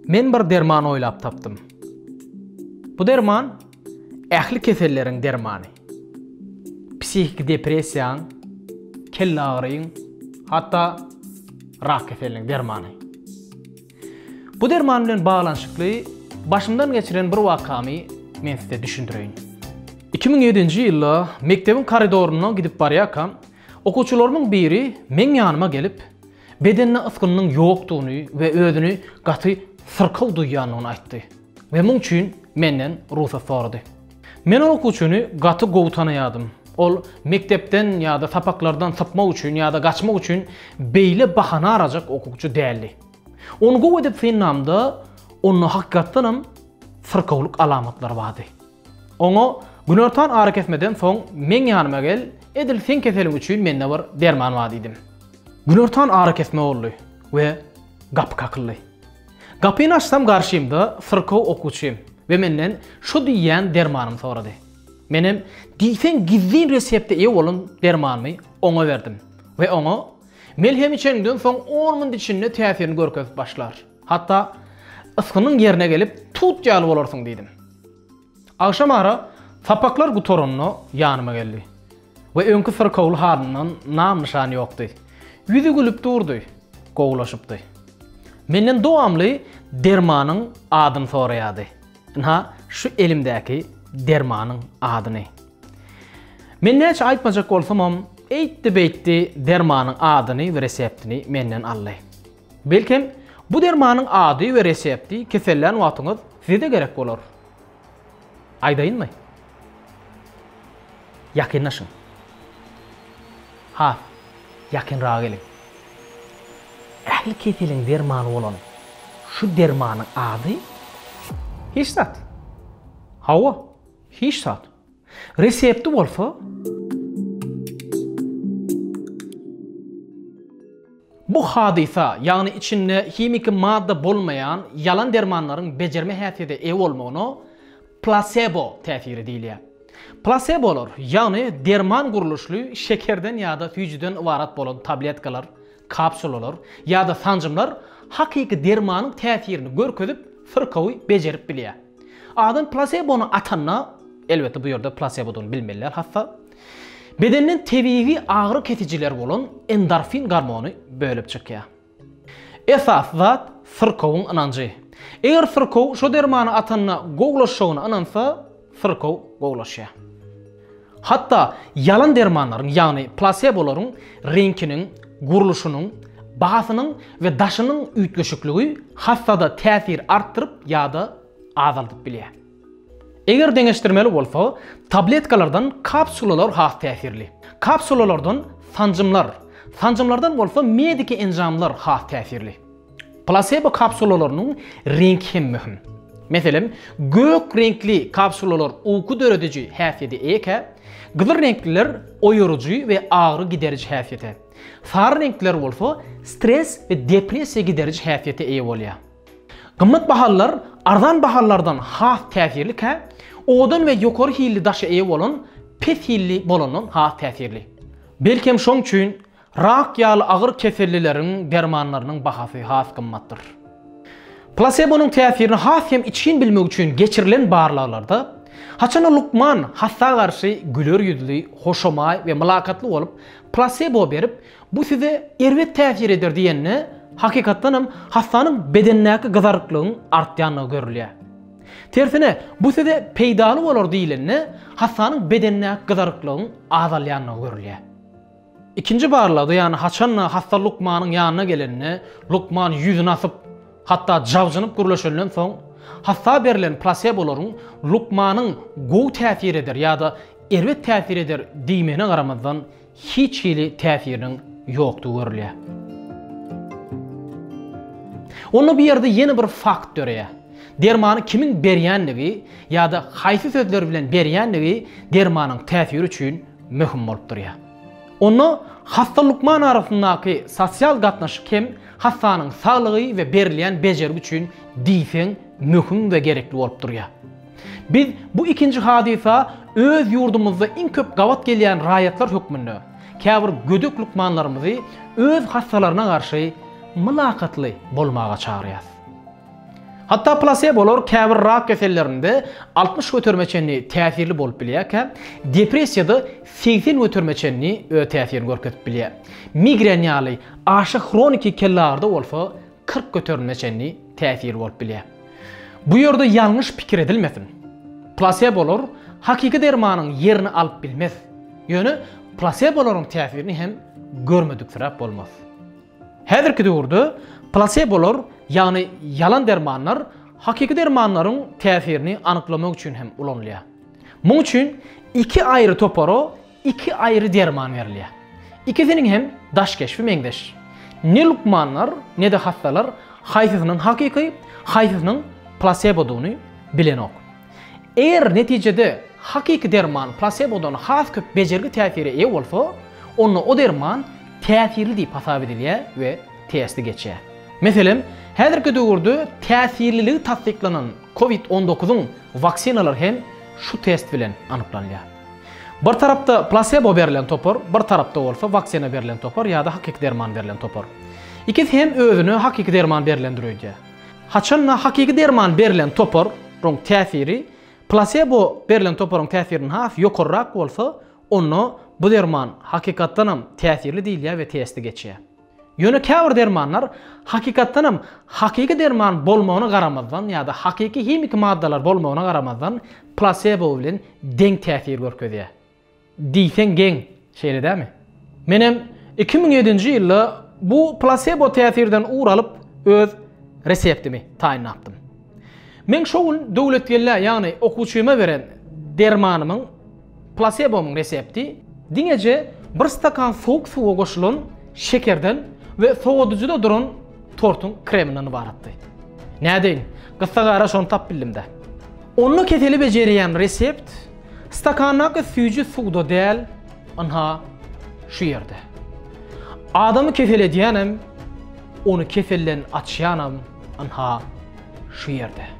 Men bir derman oýlap tapdym. Bu derman ähli keselleriň dermany. Psihiki depressiýaň, kelle agyryň, hatda rak keseliniň dermany. Bu derman bilen baglanyşykly başymdan geçiren bir wakamy men size düşündireýin. 2007-nji ýylda mekdebiň koridorynda gidip barýarkam, okuwçylarymyň biri meň ýanyma gelip, bedende ysgynynyň ýokdugyny we özüni gaty syrkaw duýýandygyny aýtdy we muň üçin menden rugsat sorady. Men ol okuwçyny gaty gowy tanaýardym. Ol mekdepden ýa-da sapaklardan sypmak üçin ýa-da gaçmak üçin beýle bahana arajak okuwçy däldi. Ony gowy edip synlamda onda hakykatdanam syrkawlyk alamatlary bardy. Oňa, Günortan arakesmeden soň meň ýanyma gel, edil seň keseliň üçin mende bir derman bar diýdim. Günortan arakesme boldy we gapy kakyldy. Gapyny açsam garşymda syrkaw okuwçym we menden şo diýýän dermanymy sorady. Menem diýseň gizlin resepte eýe bolan dermanymy oňa berdim we oňa, Melhemi içeniňden soň on minudyçinde täsirini görkezip başlar. Hatda ysgynyň ýerine gelip, tut ýaly bolarsyň diýdim. Agşamara sapaklar gutaranda ýanyma geldi we öňki syrkawly halyndan nam-nyşan ýokdy. Ýüzi gülüp durdy, gowulaşypdy. Menden dowamly dermanyň adyny soraýardy. Ynha, şu elimdäki dermanyň adyny. Men näçe aýtmajak bolsamam, eýtdi-beýtdi dermanyň adyny we reseptini menden aldy. Belkem, bu dermanyň ady we resepti kesellän wagtyňyz size-de gerek bolar. Aýdaýynmy? Ýakynlaşyň. Has ýakynraga geliň. Ähli keseliň dermany bolan şu dermanyň ady? Hiç zat. Hawa, hiç zat. Resepti bolsa Bu hadysa, ýagny içinde himiki madda bolmaýan ýalan dermanlaryň bejerme häsiýete eýe bolmagyna plasebo täsiri diýilýär. Plasebolar, ýagny derman gurluşly şekerden ýa-da süýjüden ybarat bolan tabletkalar, kapsulalar ýa-da sanjymlar hakyky dermanyň täsirini görkezip, syrkawy bejerip bilýär. Adam plasebony atanda, elbetde bu ýerde plasebodygyny bilmeliler hassa, bedenden tebigy agyry kesijiler bolan endorfin gormony bölüp çykýar. Esasy zat syrkowyň ynanjy. Eger syrkow şo dermany atanda gowlaşjagyna ynansa, syrkow gowlaşýar. Hatda ýalan dermanlaryň, ýagny plasebolaryň reňkiniň, gurluşynyň, bahasynyň we daşynyň üýtgeşikligi hassada täsir artdyryp ýa-da azaldyp bilýär. Eger deňeşdirmeli bolsa, tabletkalardan kapsulalar has täsirli. Kapsulalardan sanjymlar, sanjymlardan bolsa mediki enjamlar has täsirli. Plasebo kapsulalarynyň reňki hem möhüm. Meselem, gök reňkli kapsulalar uky dörediji häsiýete eýekä, gyzyl reňkliler oýaryjy we agyry gideriji häsiýete, sary reňkliler bolsa stres we depressiýa gideriji häsiýete eýe bolýar. Gymmat bahalylar arzan bahalylardan has täsirlikä, owadan we ýokary hilli daşa eýe bolan pes hilli bolandan has täsirli. Belkem şoň üçin Rak ýaly agyr kesellileriň dermanlarynyň bahasy has gymmatdyr. Plasebonyň täsirini has hem içgin bilmek üçin geçirilen barlaglarda, haçanda lukman hassa garşy güler ýüzli, hoşamaý we mylakatly bolup, plasebo berip, bu size erbet täsir eder diýende, hakykatdan hem hassanyň bedenindäki gyzaryklygyň artýandygy görülýär. Tersine, bu size peýdaly bolar diýlende, hassanyň bedenindäki gyzaryklygyň azalýandygy görülýär. Ikinji barlagda, ýagny haçan-da hassa lukmanyň ýanyna gelende, lukman ýüzüni asyp, hatda jabjynyp gürleşenden soň, hassa berlen plasebolaryň lukmanyň gowy täsir eder ýa-da erbet täsir eder diýmegine garamazdan, hiç hili täsiriniň ýokdugy görülýär. Onda bu ýerde ýene bir fakt döreýär. Dermany kimiň berýändigi ýa-da haýsy sözler bilen berýändigi dermanyň täsiri üçin möhüm bolup durýar. Onda hassa-lukman arasyndaky sosial gatnaşyk hem hassanyň saglygy we berilýän bejergi üçin diýseň möhüm we gerekli bolup durýar. Biz bu ikinji hadysa öz ýurdumyzda iň köp gabat gelýän raýatlar hökmünde käbir gödek lukmanlarymyzy öz hassalaryna garşy mylakatly bolmaga çagyrýarys. Hatda plasebolar käbir rak kesellerinde altmyş göterime çenli täsirli bolup bilýärkä, depressiýada segsen göterime çenli öz täsirini görkezip bilýär. Migren ýaly aşa hroniki kellagrda bolsa kyrk göterimine çenli täsirli bolup bilýär. Bu ýerde ýalňyş pikir edilmesin. Plasebolar hakyky dermanyň ýerini alyp bilmez. Ýöne plasebolaryň täsirini hem görmediksiräp bolmaz. Häzirki döwürde plasebolar, ýagny ýalan dermanlar hakyky dermanlaryň täsirini anyklamak üçin hem ulanylýar. Muň üçin iki aýry topara iki aýry derman berilýär. Ikisiniň hem daş keşbi meňzeş. Ne lukmanlar, ne-de hassalar haýsysynyň hakyky, haýsysynyň plasebodygyny bilenok. Eger netijede hakyky derman plasebodan has köp bejergi täsire eýe bolsa, onda o derman täsirli diýip hasap edilýär we testi geçýär. Meselem, häzirki döwürde täsirliligi tassyklanan covid on dokuzyň waksinalar hem şu test bilen anyklanýar. Bir tarapda plasebo berlen topar, bir tarapda bolsa waksina berlen topar ýa-da hakyky derman berlen topar. Ikisi hem özüne hakyky derman berlendir öýdýär. Haçan-da hakyky derman berlen toparyň täsiri plasebo berlen toparyň täsirinden has ýokarrak bolsa, onda bu derman hakykatdan hem täsirli diýilýär we testi geçýär. Ýöne käbir dermanlar hakykatdan hem hakyky derman bolmagyna garamazdan ýa-da hakyky himiki maddalar bolmagyna garamazdan plasebo bilen deň täsir görkezýär. Diýseň geň, şeýle dämi? Menem iki müň ýedinji ýylda bu plasebo täsirden ugur alyp öz reseptimi taýynlapdym. Men şo gün Döwletgelläe ýagny okuwçyma beren dermanymyň, plasebomyň resepti diňeje bir stakan sowuk suwa goşulan şekerden we sowadyjyda duran tortuň kreminden ybaratdy. Nädeýin, gyssagara şony tapbildimdä. Onda keseli bejerýän resept Stakandaky süýji suwda däl, ynha, şu ýerde. Adamy kesel edýänem, ony keselden açýanam, ynha, şu ýerde.